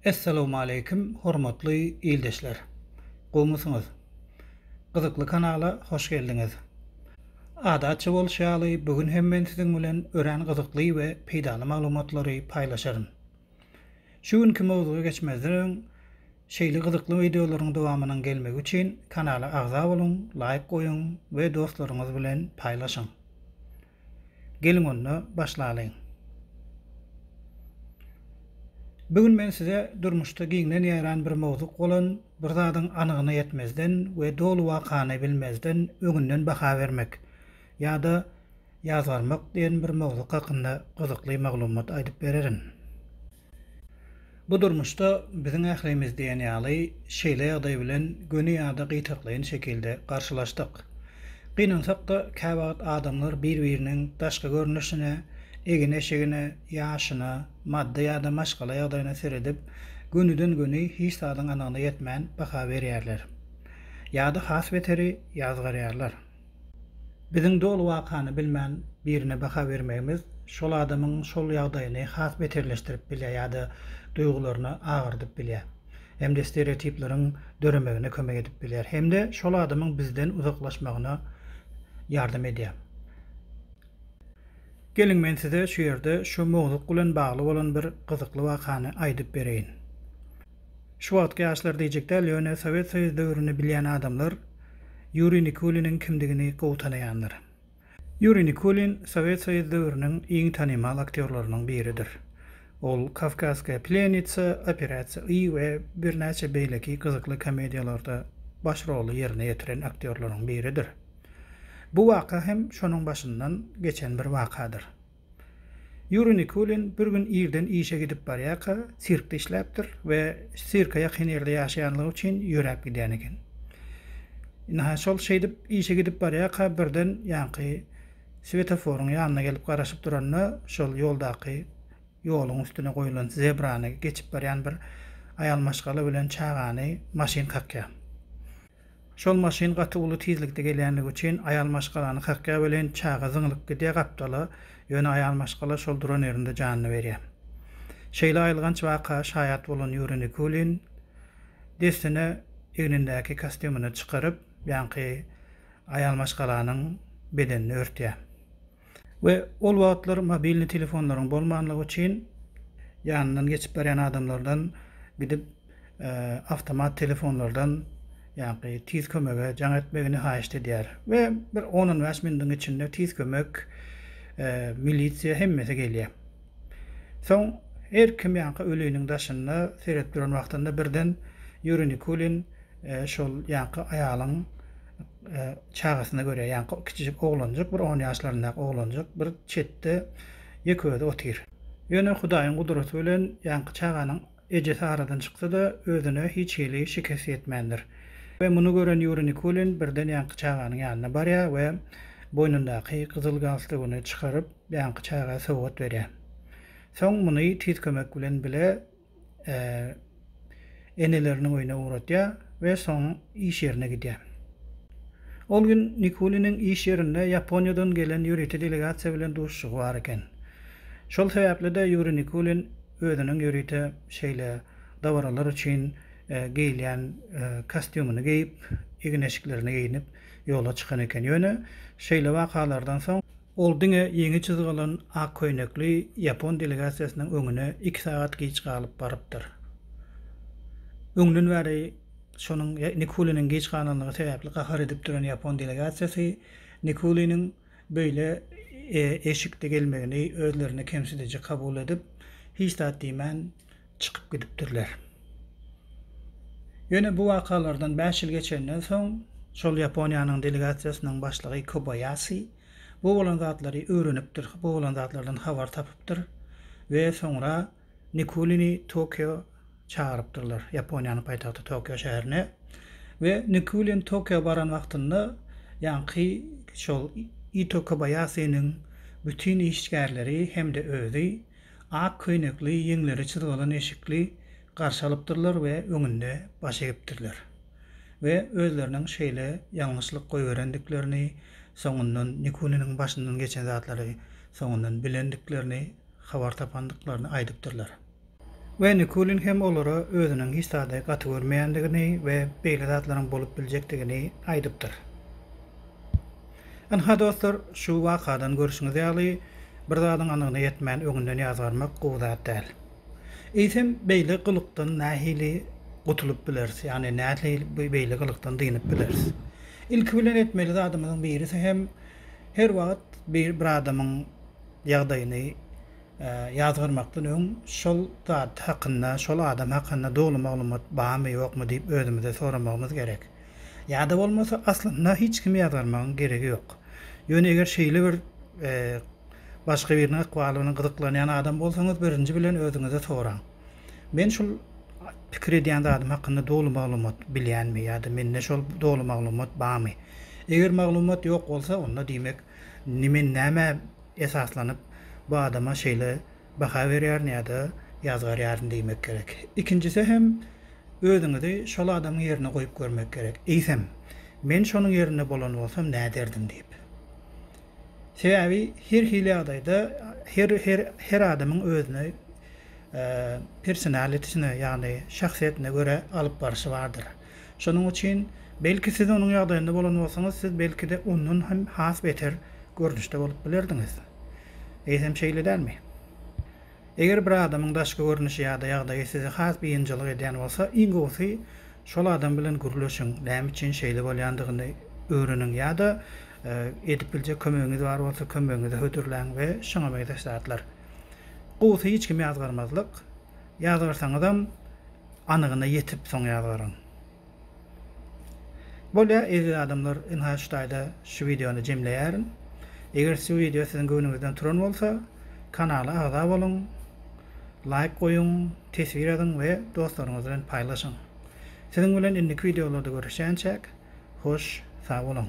Essalawmaleýkim hormatly ildeşler! Gowmysyňyz? Gyzykly kanala hoş geldiňiz! Adatça bolşy ýaly bu gün hem men siziň bilen örän gyzykly we peýdaly maglumatlary paýlaşaryn. Şu günki mowzuga geçmezden öň şeýle gyzykly wideolaryň dowamynyň gelmegi üçin kanala agza boluň, laýk goýuň we dostlaryňyz bilen paýlaşyň. Geliň onda başlalyň. Bu gün men size durmuşda giňden ýaýran bir mowzuk bolan bir zadyň anygyna ýetmezden we doly wakany bilmezden öňünden baha bermek Ýa-da ýazgarmak diýen bir mowzuk hakynda gyzykly maglumat aýdyp bererin. Bu durmuşda biziň ählimiz diýen ýaly şeýle ýagdaý bilen göni ýa-da gytaklaýyn şekilde garşylaşdyk. Gynansak-da, käwagt adamlar bir-biriniň daşky görnüşine, egin-eşigine, ýaşyna, maddy ýa-da maşgala ýagdaýyna seredip, gönüden-göni hiç zadyň anygyna ýetmän baha berýärler. Ýa-da has beteri, ýazgarýarlar. Biziň doly wakany bilmän birine baha bermegimiz şol adamyň şol ýagdaýyny has beterleşdirip bilýär ýa-da duýgularyny agyrdyp bilýär hem-de stereotipleriň döremegine kömek edip bilýär hem-de şol adamyň bizden uzaklaşmagyna ýardam edýär. Geliň men size şu ýerde şu mowzuk bilen bagly bolan bir gyzykly wakany aýdyp bereýin. Şu wagtky ýaşlar diýjek däl, ýöne Sowet Soýuz döwrüni bilýän adamlar Ýuriý Nikuliniň kimdigini gowy tanaýandyr. Ýuriý Nikulin Sowet Soýuz döwrüniň iň tanymal aktýorlarynyň biridir. Ol Kawkazskaýa plýenitsa, Operasiýa I we birnäçe beýleki gyzykly komediýalarda baş roly ýerine ýetiren aktýorlaryň biridir. Bu waka hem şonuň başyndan geçen bir wakadyr. Ýuriý Nikulin bir gün irden işe gidip barýarka, sirkde işläpdir we sirke ýakyn ýerde ýaşaýanlygy üçin ýöräp gidýän eken. Ynha, şol şeýdip işe gidip barýarka birden ýaňky swetoforyň ýanyna gelip garaşyp duranda, şol ýoldaky ýoluň üstüne goýlan zebrany geçip barýan bir aýal maşgala bilen çagany maşyn kakýar. Şol maşyn gaty uly tizlikde gelýänligi üçin aýal maşgalany kakýar welin çaga zyňlyp gidýär gapdala, ýöne aýal maşgala şol duran ýerinde janyny berýär. Şeýle aýylganç waka şaýat bolan Ýuriý Nikulin dessine egnindäki kostýumyny çykaryp, ýaňky aýal maşgalanyň bedenini örtýär. we ol wagtlar mobilny telefonlaryň bolmanlygy üçin ýanyndan geçip barýan adamlardan gidip awtomat telefonlardan ýagny tiz kömege jaň etmegini haýyşt edýär we bir on on bäş minutiň içinde tiz kömek milisiýa hemmesi gelýär soň her kim ýagny öliniň daşynda seredip duran wagtynda birden ýuri nikulin şol ýagny aýalyň çagasyna görýär. Ýaňky kiçijik oglanjyk, bir on ýaşlaryndaky oglanjyk bir çetde ýeke-özi otyr. Ýöne Hudaýyň gudraty bilen ýaňky çaganyň ejesi aradan çyksa-da, özüne hiç hili şikes ýetmändir. We muny gören Ýuriý Nikulin birden ýaňky çaganyň ýanyna barýar we boýnundaky gyzyl galstugyny çykaryp, ýaňky çaga sowgat berýär. Soň muny tiz kömek bilen bile eneleriniň öýüne ugratýar we soň iş ýerine gidýär. Ol gün Nikuliniň iş ýerinde Ýaponiýadan gelen ýörite delegasiýa bilen duşuşygy bar eken. Şol sebäpli-de Ýuriý Nikulin özüniň ýörite şeýle dabaralar üçin geýilýän kostýumyny geýip, egin-eşiklerini geýnip ýola çykan eken. Ýöne şeýle wakalardan soň Ol diňe ýeňi çyzgalan ak köýnekli ýapon delegasiýasynyň öňüne iki sagat giç galyp barypdyr. Öňden bäri şonuň Nikuliniň giç galanlygy sebäpli gahar edip duran ýapon delegasiýasy Nikuliniň beýle eşikde gelmegini özlerine kemsidiji kabul edip, hiç zat diýmän, çykyp gidipdirler. Ýöne bu wakalardan bäş ýyl geçenden soň, şol Ýaponiýanyň delegasiýasynyň başlygy Kobaýasi bu bolan zatlary öwrenipdir, bu bolan zatlardan habar tapypdyr we soňra Nikulini Tokio çagyrypdyrlar, Ýaponiýanyň paýtagty Tokio şäherine we Nikulin Tokio baran wagtynda ýaňky şol Ito Kobaýasiniň bütin işgärleri hem-de özi ak köýnekli, ýeňleri çyzgalan eşikli garşy alypdyrlar we öňünde baş egipdirler. We özleriniň şeýle ýalňyşlyk goýberendiklerini, soňundan Nikuniniň başyndan geçen zatlary soňundan bilendiklerini, habar tapandyklaryny aýdypdyrlar. We Nikulin hem olara özüniň hiç zady gaty görmeýändigini we beýle zatlaryň bolup biljekdigini aýdypdyr. Ynha dostlar, şu wakadan görşüňiz ýaly, bir zadyň anygyna ýetmän öňünden ýazgarmak gowy zat däl. Eýsem, beýle gylykdan nähili gutulyp bileris, ýagny nähili beýle gylykdan dynyp bileris? Ilki bilen etmeli zadymyzyň birisi hem her wagt bir adamyň ýagdaýyny ýazgarmakdan öň şol zat hakynda, şol adam hakynda doly maglumat barmy, ýokmy diýip özümize soramagymyz gerek. Ýa-da bolmasa aslynda hiç kimi ýazgarmagyň geregi ýok. Ýöne eger şeýle bir başga biriniň ykbaly bilen gyzyklanýan adam bolsaňyz birinji bilen özüňize soraň. Men şul pikir edýän zadym hakynda doly maglumat bilýänmi ýa-da mende şol doly maglumat bamy? Eger maglumat ýok bolsa onda diýmek men nämä esaslanyp bu adama şeýle baha berýärin ýa-da ýazgarýaryn diýmek gerek. Ikinjisi hem özüňizi şol adamyň ýerine goýup görmek gerek. Eýsem, men şonuň ýerinde bolan bolsam näderdim diýip. Sebäbi her hili ýagdaýda her her her adamyň özüne personalitesine ýagny şahsyýetine görä alyp barşy bardyr. Şonuň üçin, belki siz onuň ýagdaýynda bolan bolsaňyz, siz belki-de ondan hem has beter görnüşde bolup bilerdiňiz. Eýsem şeýle dälmi? Eger bir adamyň daşky görnüşi ýa-da ýagdaýy sizi has biynjalyk edýän bolsa, iň gowusy, şol adam bilen gürleşiň, näme üçin şeýle bolýandygyny öwreniň ýa-da edip biljek kömegiňiz bar bolsa, kömegiňizi hödürläň we şuňa meňzeş zatlar. Gowusy hiç kimi ýazgarmazlyk. Ýazgarsaňyzam, Anygyna ýetip soň ýazgaryň. Bolýa eziz adamlar ynha şu taýda şu wideony jemleýärin. Eger şu wideo siziň göwnüňizden turan bolsa kanala agza boluň, laýk goýuň, teswir ýazyň we dostlaryňyz bilen paýlaşyň. Siziň bilen indiki wideolarda görüşýänçäk hoş sag boluň.